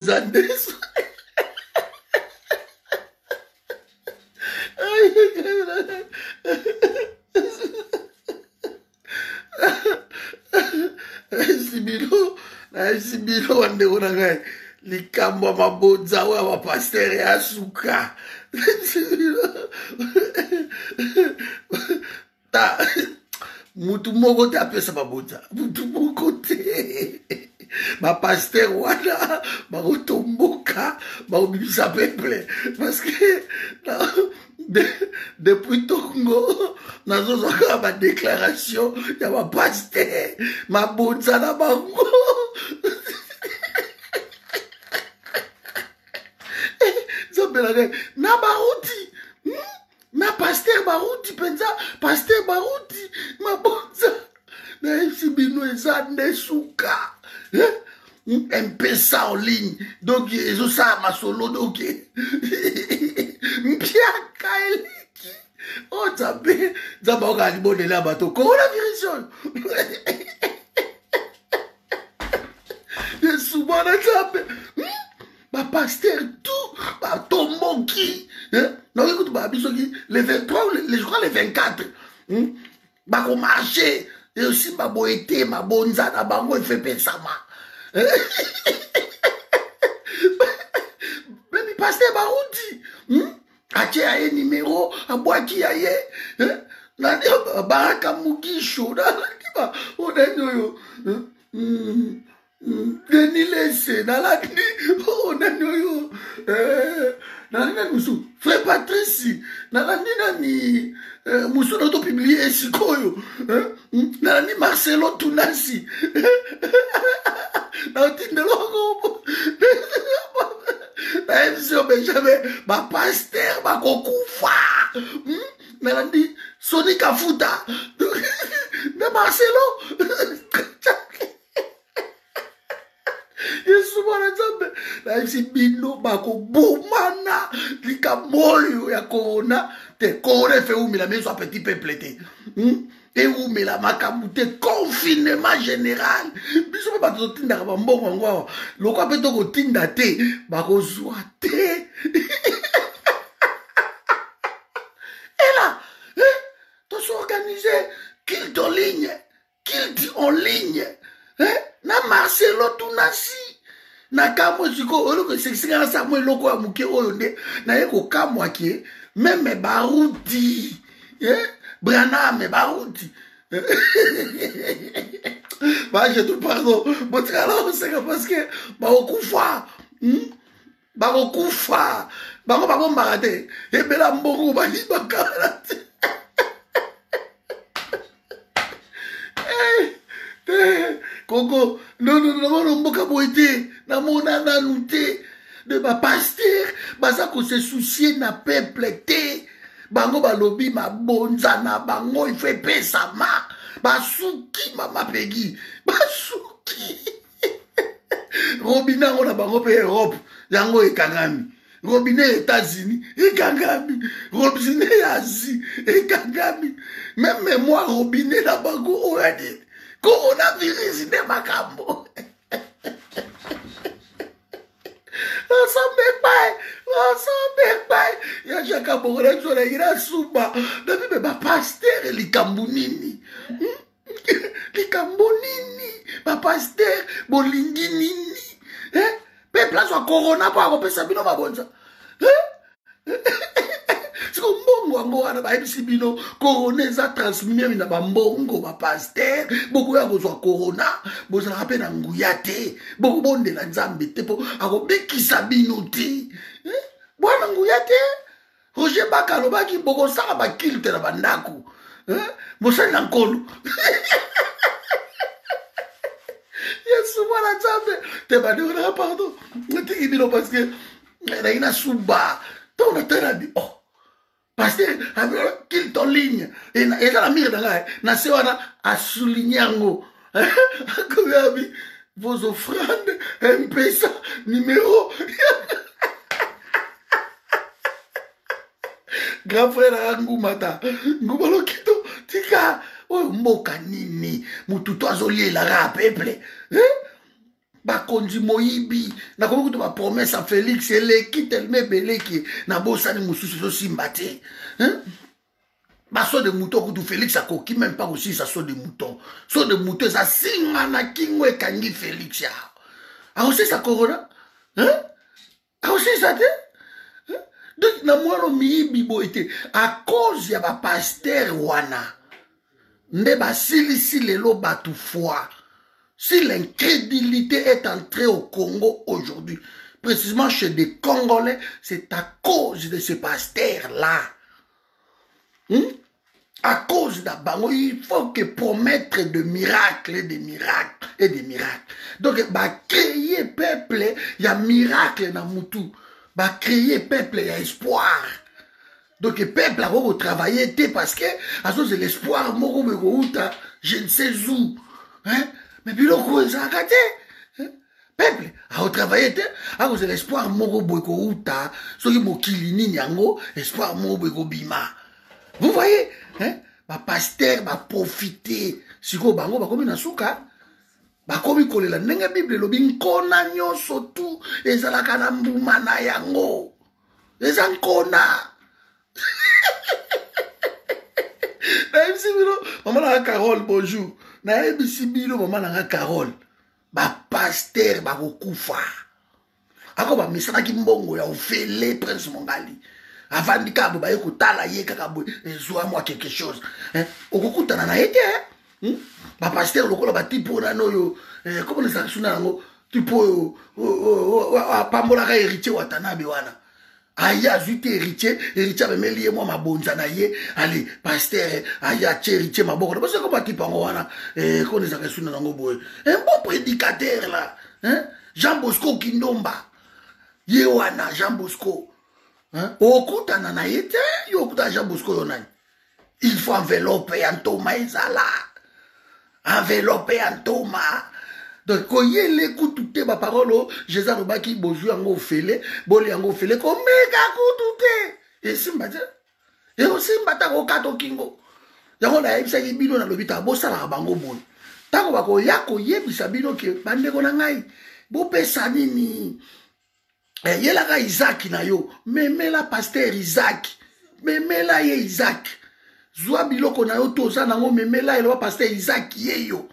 Zandesu. nayebisi bino nayebisi bino bandeko na ngai likambo ya mabonza oyo ya bapastere ya suka ta mutu moko te apesa mabonza mutu moko te bapaster wana bakotomboka bakobimisa peuple parce que de, depuis tongo nazozwa kaka badeklaration ya bapaster mabonza na bango nzambelaka na bauti na paster baruti mpenza paster baruti mabonza nayebisi bino eza nde suka eh? mpesa en ligne donc ezosala masolo donc mpiaka eleki o oh, nzambe nzambe aokaa libondela ya bato coronavirus oyo yesu mwana nzambe hmm? bapaster tout batomboki eh? naoki kutu babi soki le 23 je crois le 24 hmm? bakomarche esimba boye te mabonza na bango efepesama bebi paster bauti hmm? atie ya ye nimero abwaki ya ye eh? nani baraka mugisho nalaki ba oyo nani oyo hmm? Denis Lese, nalandi, oh, nani oyo, eh, nalandi nani mosusu, frère Patrice, nalandi nani, eh, mosusu na topiblie ye sikoyo, eh, nalandi Marcelo Tunasi, natindela ngo, na emission Benjamin, ba pasteur bakokufa, hmm? nalandi Sonic Afuta, na Marcelo, yesu mwana nzambe nayebisi bino bakobomana likambo oyo ya korona te korona efe eumela meso ya petit peuple te hmm? ewumela makambo te confinement général biso mpe bato totindaka bambongo yango awa lokwa mpe tokotinda te bakozwa te ela eh, tosorganize kilte ligne qu'il dit en ligne eh? na marcelo tunasi nakamwe sikoyo eloko esekisika na samwa eloko ya moke oyo nde naye kokamwa ke meme baruti eh? braname baruti bajetu pardon botikala koseka parceke bakokufa hmm? bakokufa bango babombaka te ebela mbongo bayibakala te eh, eh, koko nononono mboka boye te namona nanu te de bapaster baza kose soucie na peuple te bango balobi mabonza na bango ifo epesama basuki mama pegi basuki robine yango na bango mpe europe yango ekangami robine ya états-unis ekangami robine ya asie ekangami meme memoire robine na bango oyo ya nini coronavirus nde makambo ensemble epai ensemble epai ya jaka bokola ezolaki na suba nabi me bapaster likambo nini hmm? likambo nini bapaster bolingi nini eh? peuple azwa corona mpo akopesa bino mabonza eh? siko mbongo yango wana bayebisi bino corona eza transmimemi na bambongo bapaster bokoya kozwa corona bozalaka mpe na nguya te bokobondela nzambe te mpo akobikisa bino te eh? bwana nguya te roger baka alobaki bokosala bakilte na bandako mosali na nkolo yesu mwana nzambe te bandekonaka pardon natiki bino parce que nayi na suba ntango nataladi oh parce que kilte en ligne eza na mire na ngai na se wana asouligne yango akoyabi vos offrandes mpesa numéro grand frère aya ngumata nguma lokito tika oyo mboka nini motu to azolielaka peple eh? bakonzi moyibi nakomi kutu bapromese ya félix eleki telema ebeleki nabosani mosusu ezosimba te eh? baso de mouton kutu félix akoki meme mpa kosilisa so de mouton so de mouton eza singa na kingo ekangi félix ya akosilisa corona akosilisa te donc na mwana miyibi boye te a cause ya bapaster wana nde basilisi lelo bato foi si l'incrédulité est entrée au congo aujourd'hui précisément chez des congolais c'est à cause de ce pasteur là hmm? à cause de bango il faut que promettre de miracles et de miracles et de miracles donc bacréer peuple ya miracle na mutu bacréer peuple ya espoir donc peuple akoki kotravaille te parce que azozela espoir moko boye kouta je ne sais où hein? mais biloko oyo ezalaka te peuple akotravaille te akozela espoir moko boye kouta soki mokili nini yango espoir moko boye kobima vous voyez hein? bapaster baprofite sikoyo bango bakomi na suka bakomi kolela ndenge bible elobi nkona nyonso tu ezalaka na mbuma na yango eza nkona nayebisi bino mama nanga carole bonjour nayebisi bino mama nanga carole bapaster bakokufa ako bamisanaki mbongo ya ofele prince mongali avandi kaka boye baye kotala ye kaka boye ezwa mwa quelque chose eh, okokutana na ye te eh? hmm? bapastere lokola batipe oyo nano oyo eh, koma nazala suna yango tipe oyo apambolaka héritier watanabe wana aye azwi te héritier héritier amemeli ye mwa mabonza na ye ale pastere aye atye héritier maboko na baso ekoma tipe yango wana eh, kona ezalaka esuna nango boye un bon prédicateur la jean bosco kindomba ye wana jean bosco okutana na ye te yo okutana jean bosco yo nani il faut enveloppe ya ntoma ezala enveloppe ya ntoma donc koyele kutu te baparole oyo jesus alobaki bozwi yango ofele boli yango ofele komeka kutu te esimba te ekosimba ntango okata okingo yango nayebisaki bino nalobi ta bosalaka bango boni ntango bakoya koyebisa bino ke bandeko na ngai bopesa nini eh, yelaka izaki na yo memela paster izaki memela ye izaki zwa biloko na yo to oza nango memela ye loba paster izaki ye yo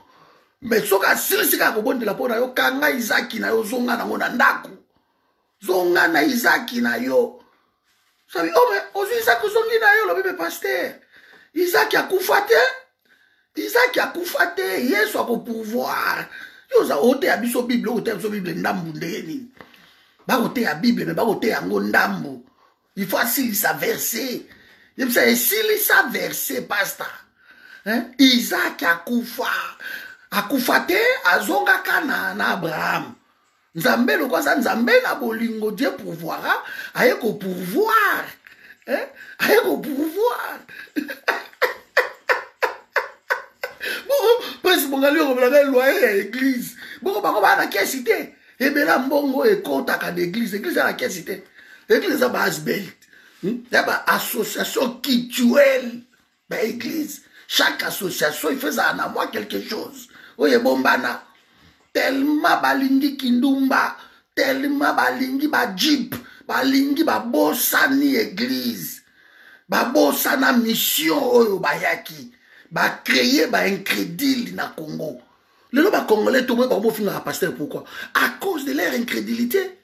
me soki asilisi kaka kobondela mpo na yo kanga izaki na yo zonga nango na ndako zonga na izaki na yo Sabi oh mais ozwi Isaac ozongi na yo lobi me pasteur. Isaac akufa te. Isaac akufa te. Yesu ako pouvoir. Yo oza oteya biso Bible, oteya biso Bible ndambu ndenge nini? Bakoteya Bible mais bakoteya yango ndambu. Il faut asilisa verset. Yebisa esilisa verset pasteur. Hein? Isaac akufa. Akufa te azongaka na na Abraham. nzambe loko aza nzambe na bolingo die pourvoira aye kopourvoir eh? aye kopourvoir prince mongali okomelaka eloye ya eglise boko bango baa na kesi te ebela mbongo oyo ekotaka na eglise eglise ya na kesi te eglise eza baasbelt hmm? ya baassociation kituele ba église chaque association ife ezala na mwa quelque chose oyo ebombana tellement balingi kindumba tellement balingi bajipe balingi babosani église babosana mission oyo bayaki bacreye baincrédile na congo lelo bacongolais toboye bango bofingaka pasteur pourquoi à cause de leur incrédilité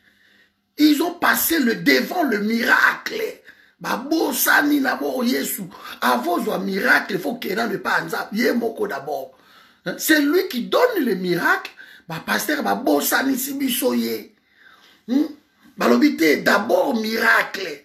ils ont passé le devant le miracle babosani na boo yesu avant ozwa miracle il faut kena le pa nzambe ye moko d'abord c'est lui qui donne le miracle bapastere babosanisi biso ye hmm? balobi te d'abord miracle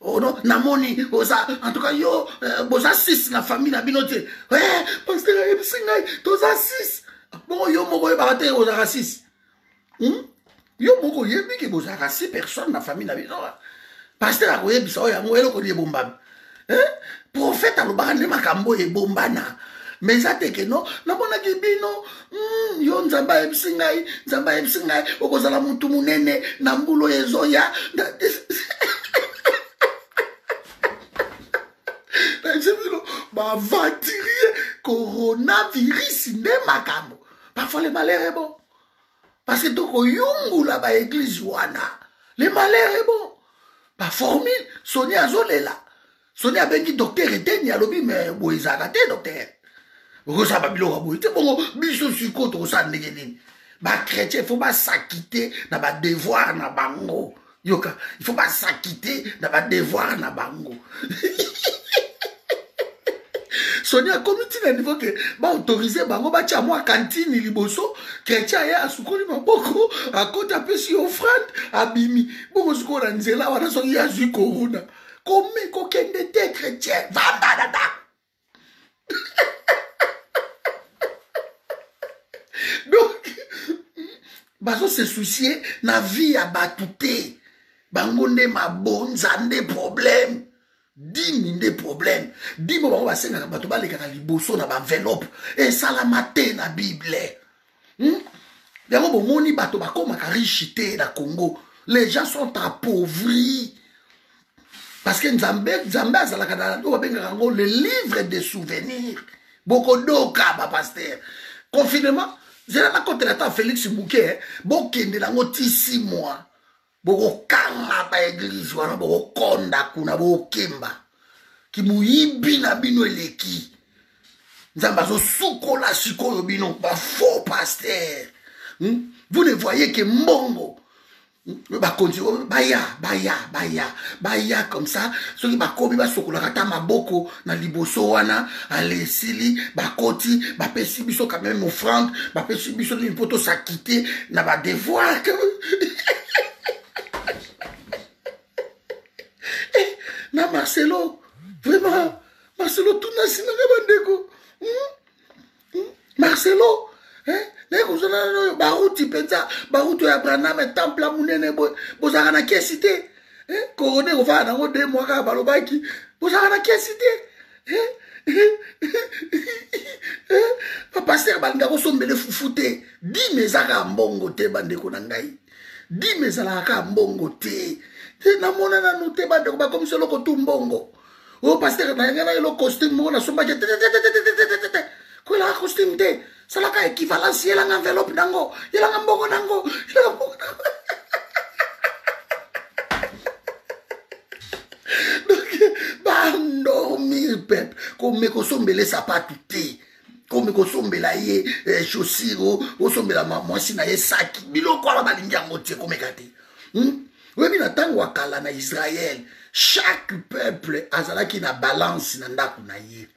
Oh non, namoni oza en tout cas yo euh, boza 6 na famille na bino te. Eh, pasteur ayebisi ngai toza 6. Bongo yo moko oyebaka te ozalaka 6. Hmm? Yo moko oyebi ke bozalaka 6 personnes na famille na bino. Pasteur akoyebisa oyo yango eloko nini ebombami. Eh? Prophète alobaka nde makambo ebombana. Mais eza te ke non, namonaki bino Mm, yo nzambe ayebisi ngai nzambe ayebisi ngai okozala motu monene na mbulo ya ezoya nayebisaino bavatirie coronavirus nde makambo parfois le malheur est bon parce que tokoyungula baeglize wana le malheur est bon baformule soni azolela soni abengi docteur eteni alobi me boye ezalaka te docteur okosala babiloko ya boye te bongo biso sikoyo tokosala ndenge nini bachrétien il faut basakite na badevoir na bango yoka il faut basakite na badevoir na bango soni akomi ntina niveau ke baautorize bango batya mwa kantini liboso kretien aye asukoli maboko akoti apesi yo ofrande abimi bongo sikoyo na nzela wana soki ye azwi korona komi kokende te chrétien vanda na ndako donc bazo se soucie na vie ya bato te bango nde mabonza nde problème dimi nde problème dimo bango basengaka bato balekaka liboso na baenveloppe esalama te na bible hmm? yango bomoni bato bakomaka riche te na congo les gens sont appauvris parce que nzambe nzambe azalaka na oyo babengaka yango le livre de souvenir bokodoka bapaster confinement zela nakotela ata felix muke eh. bokende nango ti si mois bokokanga ba eglise wana bokokonda kuna bokemba kimoyibi na bino eleki nzambe azosukola sikoyo bino bafaux paster hmm? vous ne voyez ke mbongo hmm? bakonzi baya baya baya baya comme ça soki bakomi basokolaka ata maboko na liboso wana ale esili bakoti bapesi biso quand même offrande bapesi biso nini mpo tosakite na badevoir eh, na marcelo vraiment marcelo tunasi nanga bandeko hmm? hmm? marcelo eh? naye kozala oyo baruti mpenza baruti oyo abraname temple monene boye bozalaka na kesi te eh? korona ekofala nango de mwa kaka balobaki bozalaka na kesi te eh? bapaster balinga kosombele fufu te dime eza kaka mbongo te bandeko na ngai dime ezalaka kaka mbongo te te namona nanu te bandeko bakomisa eloko tu mbongo oyo pastere nayanga na elo costume moko nasombaki tetetetetetetete koyelaka costume te salaka équivalence yelanga enveloppe nango yelanga mbongo nango yelanga mbongo nango donc bandormir peuple komeka osombele sapatu te komi kosombela ye eh, chaussure osombela mwasi na ye saki biloko wana balingi yango te komeka te hmm? oyebi na ntango ya kala na israele chaque peuple azalaki na balance na ndako na ye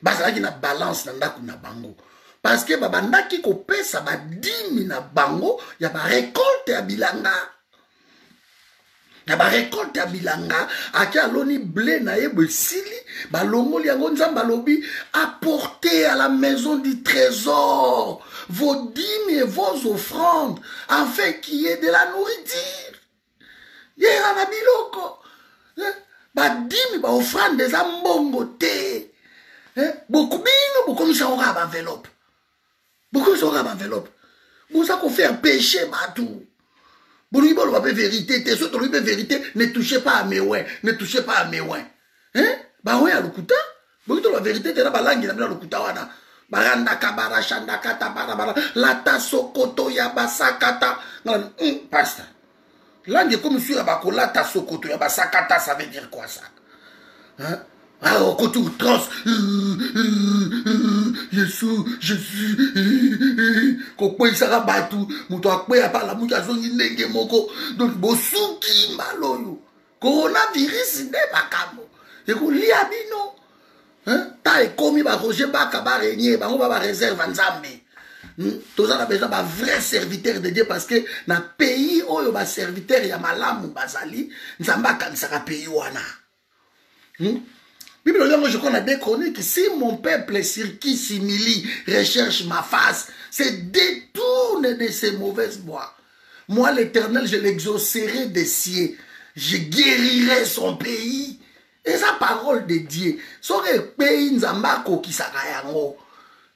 bazalaki na balance na ndako na bango parce que babandaki kopesa badimi na bango ya barekolte ya bilanga na barekolte ya bilanga ake aloni ble na ye boesili balongoli yango nzambe alobi apporte à la maison du trésor vos dîmes et vos offrandes afin qu'il y ait de la nourriture yera na biloko eh, badimi baofrande eza mbongo te eh, bokubino bokomisa yango kaka baenveloppe bokozwaka baenveloppe boza kofaire peche bato bolingi boloba mpe verité te so tolobi mpe verité ne touche pas à mewin ne touche pas à mewin bango ya lokuta boki toloba verité te na balangi na bino ya lokuta wana barandaka barashandakata barabara lata sokoto ya basakata hmm, pasta langue ekomi su ya bakolata sokoto ya basakata ça veut dire quoi ça hein? Ah, on compte outrance. Yesu, Jésus, kokweyisaka bato moto akweya palamuki azongi ndenge moko donc bosuki mbala oyo coronavirus nde makambo ekolia bino ntan ekomi baroger baka baregne bango ba bareserve nzambe hmm? toza na besoin bavrai serviteur de dieu parce que na pays oyo baserviteur ya malamu bazali nzambe akanisaka pays wana hmm? bible yango je crois na de chronique si mon peuple sur qui simili recherche ma face se détourne de ses mauvaises bois Moi, l'Éternel, je l'exaucerai des cieux. Je guérirai son pays. Et sa parole de Dieu. Soki pays nzambe akokisaka yango.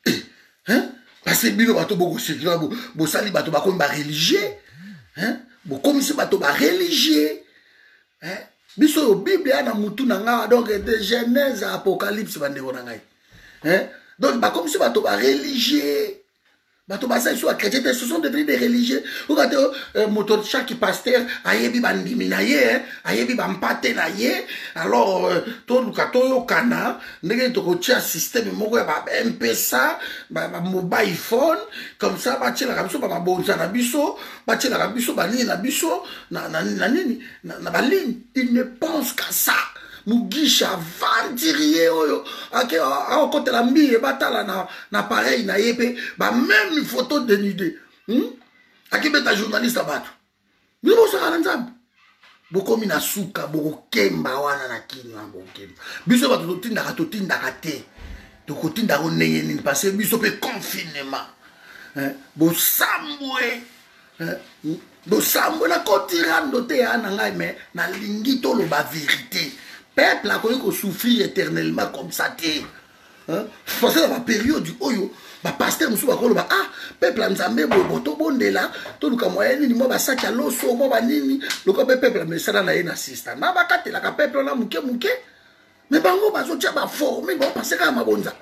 Eh, hein? Parce que bino bato bokosekela bosali bato bakomi bareligieux. Hein? Bokomisi bato bareligieux. Hein? biso oyo bible ya na mutu na ngai donc de genèse apocalypse bandeko na ngai hein? donc bakomisi bato bareligieux bato baza lisusu bakretien te ce sont devenu des religieux oka te euh, moto chaque pasteur ayebi bandimi na ye ayebi bampate na ye alors euh, toluka toyokana ndenge tokotia systeme moko ya bampesa bamobile phone comme ça batielaka biso bamabonza na biso batielaka biso banini na biso na nini na baligne il ne pense qu'à ça mugisha aventurier oyo ake aokotela mbiye batala na, na pareil na ye mpe bameme photo denude hmm? akibeta journaliste ya bato bino bosaka na nzambe bokomi na suka bokokemba wana na kini wana bokokemba biso bato totindaka totindaka te tokotinda yango ndenge nini parce biso mpe confinement eh, bosambwe losambo eh, nakoti rando te ya na ngai me nalingi toloba verité peuple akoki kosouffrir éternellement comme ça te parce que na baperiode oyo bapaster mosusu bakoloba ah peuple ya nzambe bobo tobondela toluka moya nini mwa basaki ya loso mwa banini lokola mpe peuple ya mesana na ye na sista na bakatelaka peuple wana moke moke me bango bazotya baforme baopanse kaka mabonza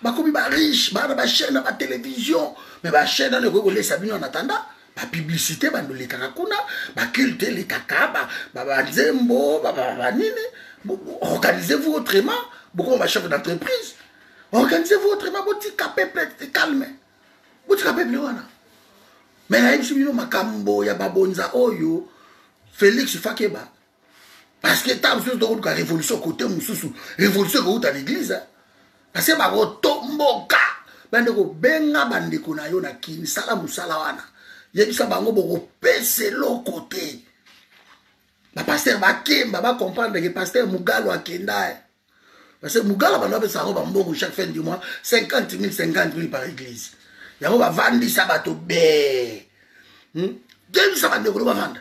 bakomi ba riche bana ba chaîne na ba télévision mais ba chaîne wana ekoki kolesa bino en attendant bapublicité bando elekaka kuna baculte elekaka banzembo banini organisez-vous autrement bokoma bachef d'entreprise organisez-vous autrement botika peuple calme botika peuple wana me nayebisi bino makambo ya babonza oyo félix fakeba parce que ntango mosusu tokoluka révolution kote mosusu révolution ekouta na église parce que bakotomboka bande kobenga bandeko na yo na kini sala mosala wana yebisa bango bokopesa eloko te bapaster bakemba bacomprendre ke paster mugalo akenda eh. parce que mugalo bando bapesa yango bambongo chaque fin du mois 50 000 50 000 par église yango bavandisa bato be hmm? yebisa bandeko no bavanda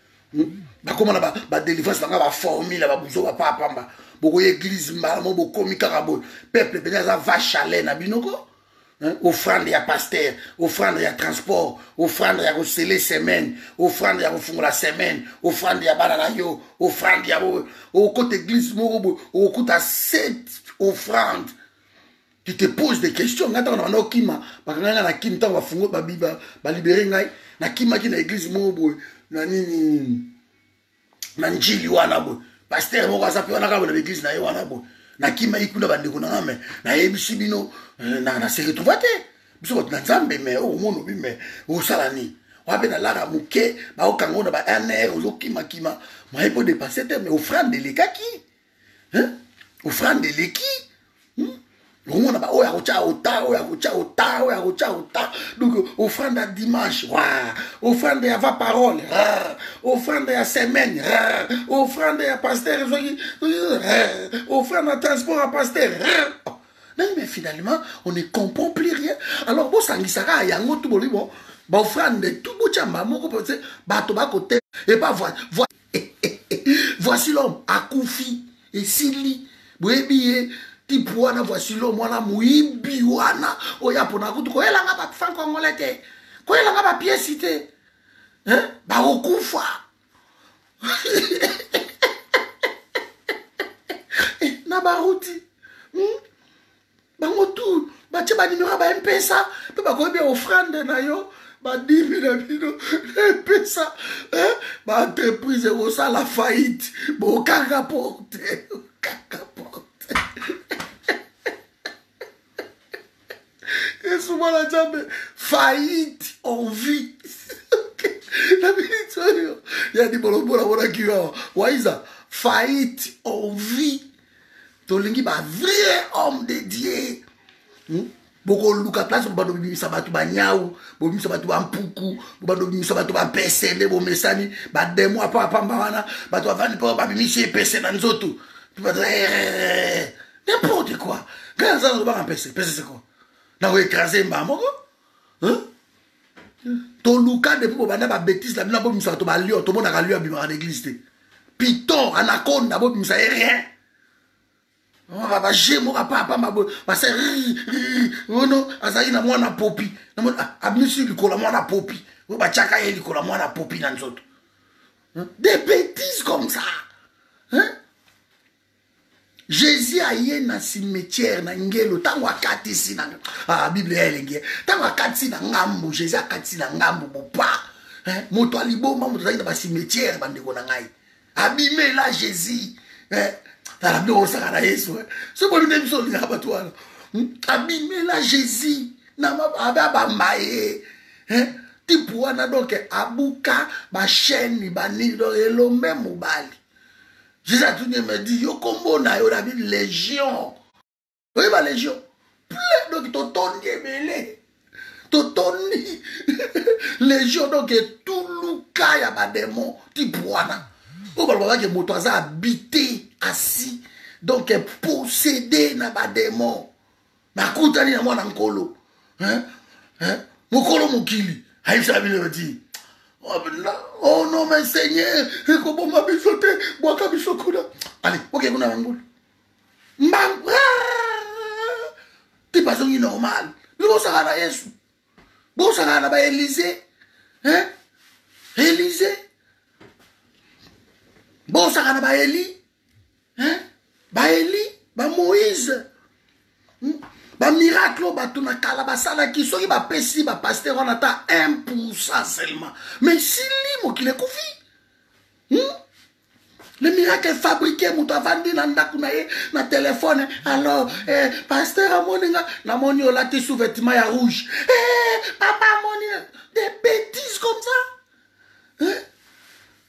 hmm? bakoma na badelivrance banga baformule babuzo bapaa pamba bokoya eglize mbala mo bokomi kaka boye peuple mpenza aza va chalet na bino ko offrande ya paster offrande ya transport offrande ya kosele semaine offrande ya kofungola semaine offrande ya bana na yo offrande ya okota eglize moko boye okokuta set offrande tu te pose des questions ngai ntango na banda okima bakanga ngai na kini ntango bafungo balibere ngai nakimaki na eglise moko boye na nini na njili wana boye paster moko aza mpe wana kaka na baeglise na ye wana boye nakimaki kuna bandeko na ngai me nayebisi bino eh, na se retrouva te biso bato na nzambe me okomona obi me osala nini wana mpe nalaka moke baokanga ngo na ba nr ozokimakima maye mpo depense te me ofrande elekaki hein? offrande eleki hmm? okomona baoyo ya kotya ota oyo ya kotya ota oyo ya kotya ota donc offrande ya dimanche wa offrande ya va parole offrande ya semaine offrande ya paster soki offrande ya transport ya paster naye mais finalement on ne comprend plus rien alors bosangisaka yango tu bolibo baofrande tu botyamba moko mpo te bato bakote epa voici l'homme akufi esili boyebi ye tipe wana voici l'homme wana moyibi wana oyo apona kutu koyelanga bafan congolais te koyelanga bapiesi te bakokufa na baruti hmm? bango tout batie banimero ya bampesa mpe bakoyebi ofrande na yo badimi na bino epesa baentreprise ekosala faillite bokanga porte okanga porte yesu mwana nzambe faillite en vie na miniti oyo ya libolobola monaki yo awa waiza faillite en vie tolingi ba vrai homme de dieu hmm? bokoluka place bobanda bobimisa bato banyau bobimisa bato bampuku bobanda bobimisa bato bampese nde bomesani bademo apa apamba wana bato bavandi mpo babimisi epese na nzoto n'importe quoi ngai naza nazobaka mpese mpese seko nakoekrase mbaa moko toluka depuis bobanda babetise na bino abobimisaka to balion tomonaka lion abimaka na église te piton anakonda abobimisa ye rien baje moko apapamba boye basa ono azalaki na mwana popi abimisi ah, likolo ya mwana popi oyo batyaka ye likolo ya mwana popi na nzoto des bêtises comme ça hein? jésus aye na cimetière na ngelo ntango akatisi na ah, biblia ya elenge ntango akatisi na ngambo jésus akatisi na ngambo bopa eh, moto ya liboma moto azali na bacimetière bandeko na ngai abimela jésus eh, tala biloko osaka na yesu eh. soki bobi nde biso olingaka bato wana hmm, abimela jésus na mabe abamba ye eh, tipe wana donk abuka bachaine banini elombe mobali Jesus atuni ye me di yo kombo na yo nabi legion oye ba legion plein donc totondi ebele totondi legion donc etuluka ya bademon tipwana oyo balobabake moto aza abite asi donc posede na bademon nakutani na mwana nkolo hein? Hein? mokolo mokili ayebisaka bino bati oh, oh non mais seigneur ekoboma biso te bwaka biso kuna ale oke kuna bangulu mbangu ah! ti bazongi normal bino bosaka na yesu bosaka na baelize elize bosaka na baeli hein? baeli bamoïse bamiracle oyo bato na kala basalaki soki bapesi bapaster wana ata 1 pourcent seulement mais sili mokili ekufi hmm? le miracle fabriqué moto avandi na ndako na ye na telefone alors eh, paster amoni nga namoni olati sous vêtement ya rouge eh, papa amoni des bêtises comme ça hein?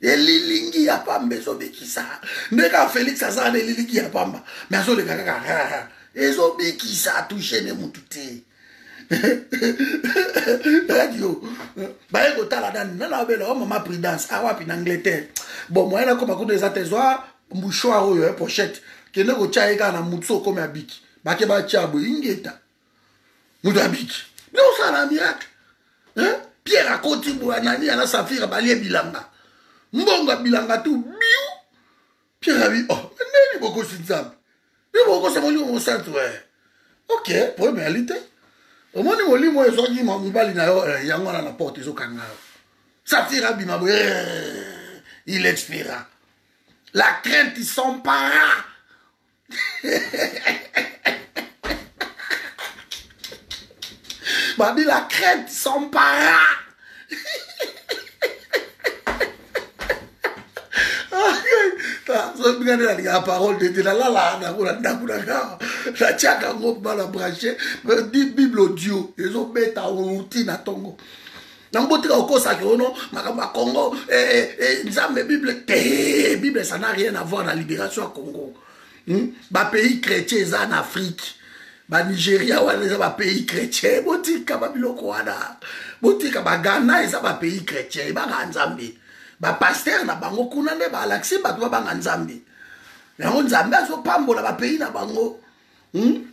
elilingi ya pamba ezobikisa nde kaka felix azala na elilingi ya pamba me azoleka kaka ezobikisa atushe ne mutu te radio baye kotala nani nana abela o oh, mama prudence awapi ah, na angleterre bon moyen nakoma kuna eza te zwa mbuchoir oyo ya eh, pochette kende kotya ye kaka na motu so okomi abiki bake batya boye ingeta moto abiki nde osala miracle pierre akoti boya nani yana safira balie bilanga mbongo ya bilanga tu biu pierre abi oh ndeni bokosi nzambe yo bokosa molimo mosantu e ok problème yali te omoni molimo oyo ezwaki mobali na yo eh, yango wana na porte ezokanga yo safira abima boye eh, il expira la crainte s'empara Babi la crête sans para. soki bika nde nalingaka parole de te nalalaka nango na ndako na kaka natiaka yango bana branche bible audio ezobeta outi na ntongo na mbotika okosaki ono makambo ya congo eh, eh, eh, nzambe bible te bible ça n'a rien à voir na libération ya congo hmm? bapays chrétien eza na afrique banigeria wana eza bapays chrétien botika babiloko wana botika bagana eza bapays chrétien ebanga nzambe bapaster na bango kuna nde balakisi bato babanga nzambe yango nzambe azopambola bapays na bango hmm?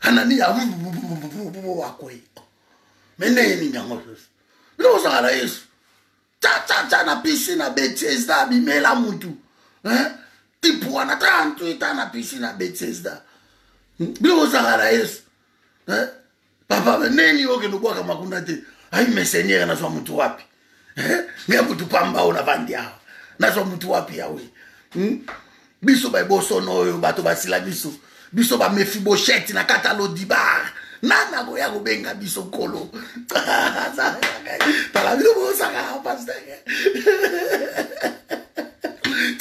anania akoye me ndenge nini yango susu bino bozalaka na yesu cacaca na pisi na betesda abimela mutu tipu wana 38 ans na pisi na betesda bino bozalaka na yesu papa neni okende obwaka makunda te ayi me seigneur nazwa mutu wapi eh, ngai mutu pamba oyo navandi awa nazwa mutu wapi yawe hmm? biso baebosono oyo bato basila biso biso bamefiboshete na kata lodibar nani akoya kobenga biso nkolo tala bino bosaka paster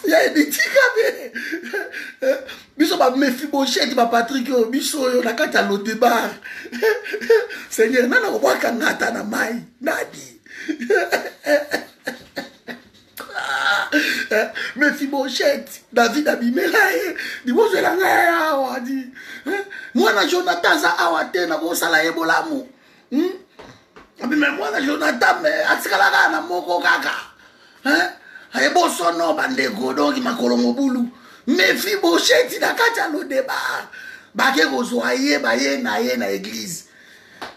ya ebitika mpe biso ba mefiboshete ba patrik oyo biso oyo na kati ya lodebar seigneur nani akobwaka ngata na mai nani eh, mefiboshete david abimela ye eh, libozwela ngai awa di eh, mwana jonathan aza awa te nakosala ye bolamu hmm? abima mwana jonathan me atikala kaka na moko kaka ebosono bandeko donki makolo mobulu mefi bosheti na kati ya lodeba bake kozwa ye baye na ye na eglize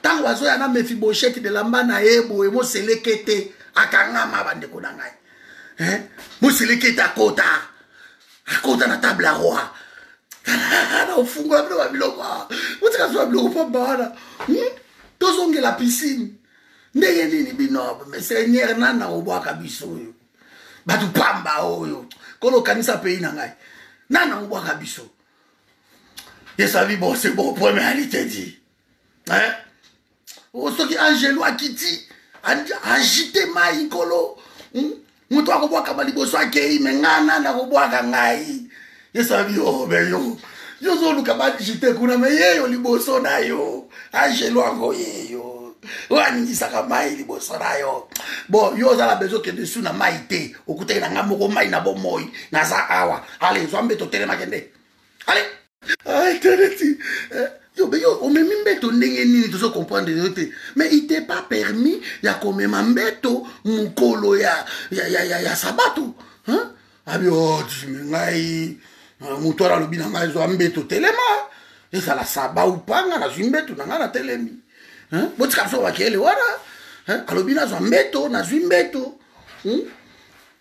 ntango bazoya na mefi bosheti belamba na ye boye moselekete akangama bandeko na ngai moselekete akota akota na table ya roi na ofungola bino babiloko awa botika biso babiloko pamba wana hmm? tozongela piscine ndenge nini bino seigneur nani nakobwaka biso oyo bato pamba oyo kono okanisa pays na ngai nani nakobwaka biso yesu abi bon c'est bon première alite dit hein? Oh, soki angelo akiti agite mai nkolo hmm? moto akobwakama liboso akei me ngai nani akobwaka ngai yesu abi oh, obe yo yo ozoluka bagite kuna me yeyo liboso na yo angelo yango yeyo oyo aningisaka mai liboso na yo bon yo oza na bezo okende su na mai te okutaki na ngai moko mai na bomoi naza awa ale zwa mbe totelemake nde allez ah internet eh, yo be yo omemi mbeto ndenge nini tozo comprendre yo te mais il t'est pas permis ya komema mbeto mokolo ya ya ya ya, ya sabato hein abi oh ngai ah, moto wana alobi na ngai zwa mbeto telema ezala saba ou pas ngai nazwi mbeto na ngai natelemi hein botika biso bakele wana hein alobi nazwa mbeto nazwi mbeto hmm?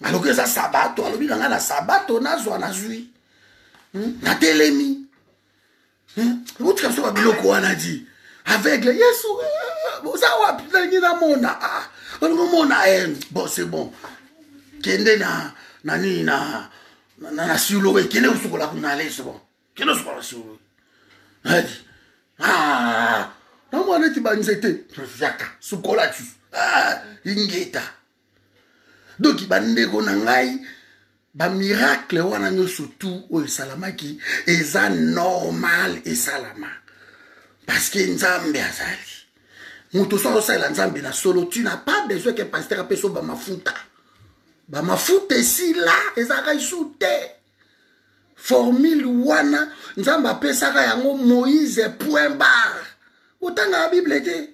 aloki eza sabato alobi na ngai na sabato nazwa nazwi hmm? natelemi hmm? otika biso babiloko wana di aveugle yesu eh, oza wapi nalingi namona ah, olingi omona eh, bon c'est bon kende na na nini na na, na, na silowe kende kosukola kuna leso bon kende osukola silowe adi ah, namwana eti banzete yaka sukola ti ah, ingeta donki bandeko na ngai bamiracle wana nyonso tu oyo esalamaki eza normal esalama parceke nzambe azali moto soki osalela nzambe na solo tu na pas besoin ke pasteur apesa yo bamafuta bamafuta esila ezalaka isu te formule wana nzambe apesaka yango moïse point bar otangaka bible te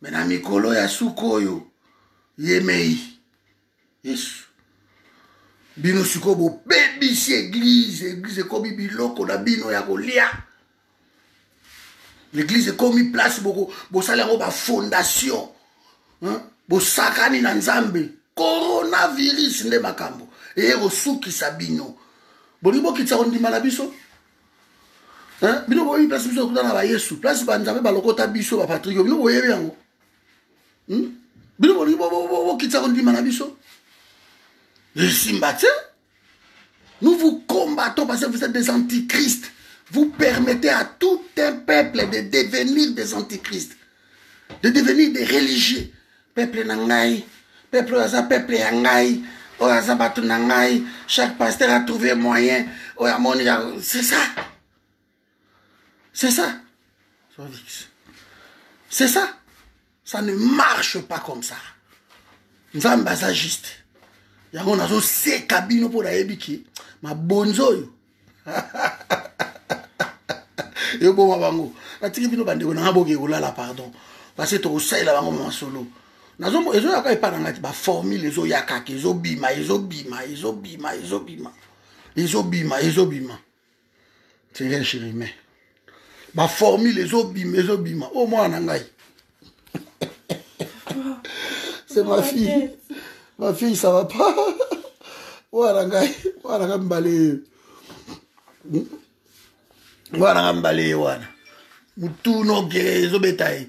me na mikolo ya suka oyo yemei yesu bino sikoyo bobebisi eglize eglize ekomi biloko na bino ya kolia l'église ekomi place bosali yango bafondation bosakani na nzambe coronavirus nde makambo eye kosukisa bino bolingi bokitisa kondima na biso bino boyebi place biso tokutana ba yesu place banzambe balokota biso bapatrike bino boyebi yango hmm? bino bolingi bokitisa kondima na biso esimba te nous vous combattons parce que vous êtes des antichrist vous permettez à tout un peuple de devenir des antichrist de devenir des religieux peuple na ngai peuple oyo aza peuple ya ngai oyo aza bato na ngai chaque pasteur a trouvé moyen oyo amoni ya c'est ça c'est ça c'est ça ça ne marche pas comme ça nzambe aza juste yango nazoseka bino mpo nayebi ke mabonzi oyo eboma bango natiki bino bandeko nanga boke kolala pardon parce tokosalela bango masolo ezoyaka epa na ngati baformule ezoyakaka ezobima ezobima ezobima ezobima ezobima ezobima c'est rien chirime ba formule ezobima ezobima o oh, mwana na ngai c'est ma fille ma fille ça va pas mwana ngai mwana ngai mbale mwana ngai mbale wana mutuna oke ezobeta ye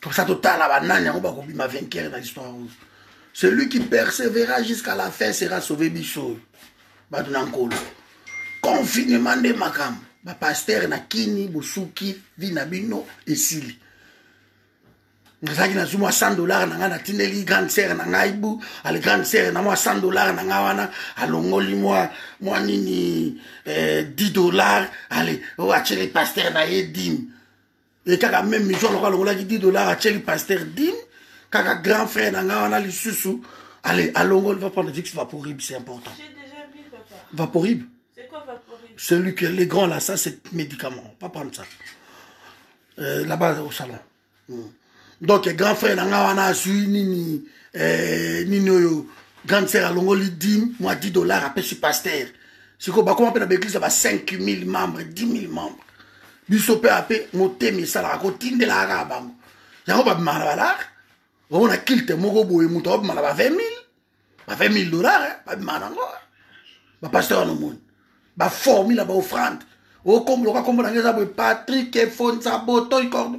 tosa totala banani yango bakobima vainqueur na histoire oyo celui qui persévéra jusqu'à la fin sera sauvé biso oyo bato na nkolo confinement nde makambo bapastere na kini bosuki vi na bino esili nazalaki nazwi mwa 100 dollar na ngai natindeli grande sere na ngai bu ale grande sere na mwa 100 dollar na ngai wana alongoli mwa mwa nini eh, 10 dollar ale oyo oh, atyeli pastere na ye dime e kaka meme miso aloko alongolaki 10 dollar atyeli paster dine kaka grand frère na ngai wana lisusu allez alongoli va prendre vix vaporib c'est important vaporib celui que les grands là ça c'est médicament va prendre ça euh, là-bas au salon mm. donc grand frère na ngai wana azwi nini eh, nini oyo grande sœur alongoli dime mwa 10 dollar apesi paster sikoyo bakoma mpe na baeglise ya ba 5000 membres 10 000 membres biso mpe ape motema esalaka kotindelaka kaka bango yango babimaka na balare omona kilte moko boye moto akobima na ba 20 mille ba 20 mille dollar eh, babima nango eh. bapasteur wana omoni baformi na baofrande okomboloka kombo nange eza boye patrik efonza botoi cordo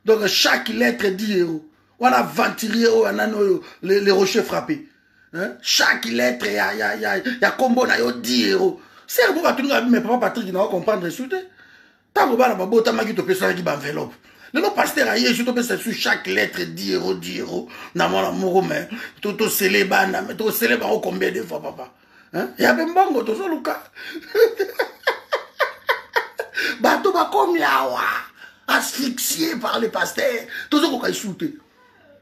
donc chaque lettre di yeo wana aventurier oyo anani oyo le rocher frappe hein? chaque lettre ya, ya, ya, ya kombo na yo diero sere mpo bato ninga me papa patrik na ocomprendre su te ntango bana babotamaki topesanaki baenveloppe lelo paster aye esu topesa su chaque lettre diero diero na mwana moko me tosele bana me tosele bango combien de fois papa ya mpe mbongo tozoluka bato bakomi awa asphyxie par le paster tozokoka esu te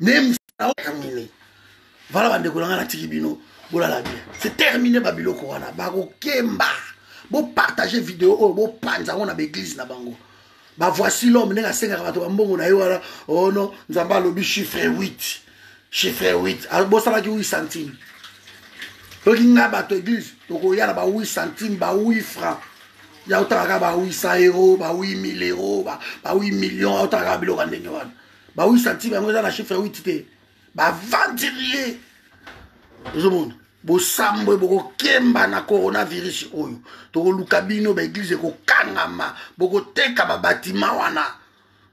naye mosala otamini vala bandeko na ngai natiki bino bolala bien c'est termine babiloko wana bakokemba bopartage video oyo bopanza yango na baeglize na bango bavoici l'homme ndenge asengaka bato bambongo na ye wana ono oh nzambe alobi chiffre 8 chiffre 8 bosalaki 8 centime soki ngai bato eglise tokoya na ba 8 centime ba 8 franc ya otalaka ba 800 euro ba 8000 euro ba 8 million otalaka biloko ya ndenge wana ba 8 centime yango eza na chiffre ya 8 te bavandirier ozomona bosambwe bokokemba na coronavirus oyo tokoluka bino baeglize ekokangama bokoteka babatima wana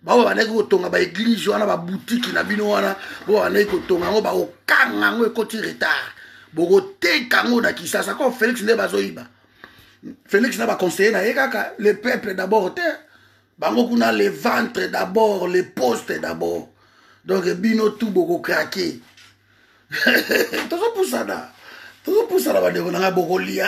baoyo bandaki kotonga baeglize wana babutiki na bino wana bo bandaki kotonga yango bakokanga yango ekoti retard bokoteka yango na kisasa ko félix nde bazoyiba félix na baconseiller na ye kaka le peuple d'abord te bango kuna le ventre d'abord le poste d'abord donc bino tu bokokrake tozopusana tozopusana bandeko na ngai bokoliana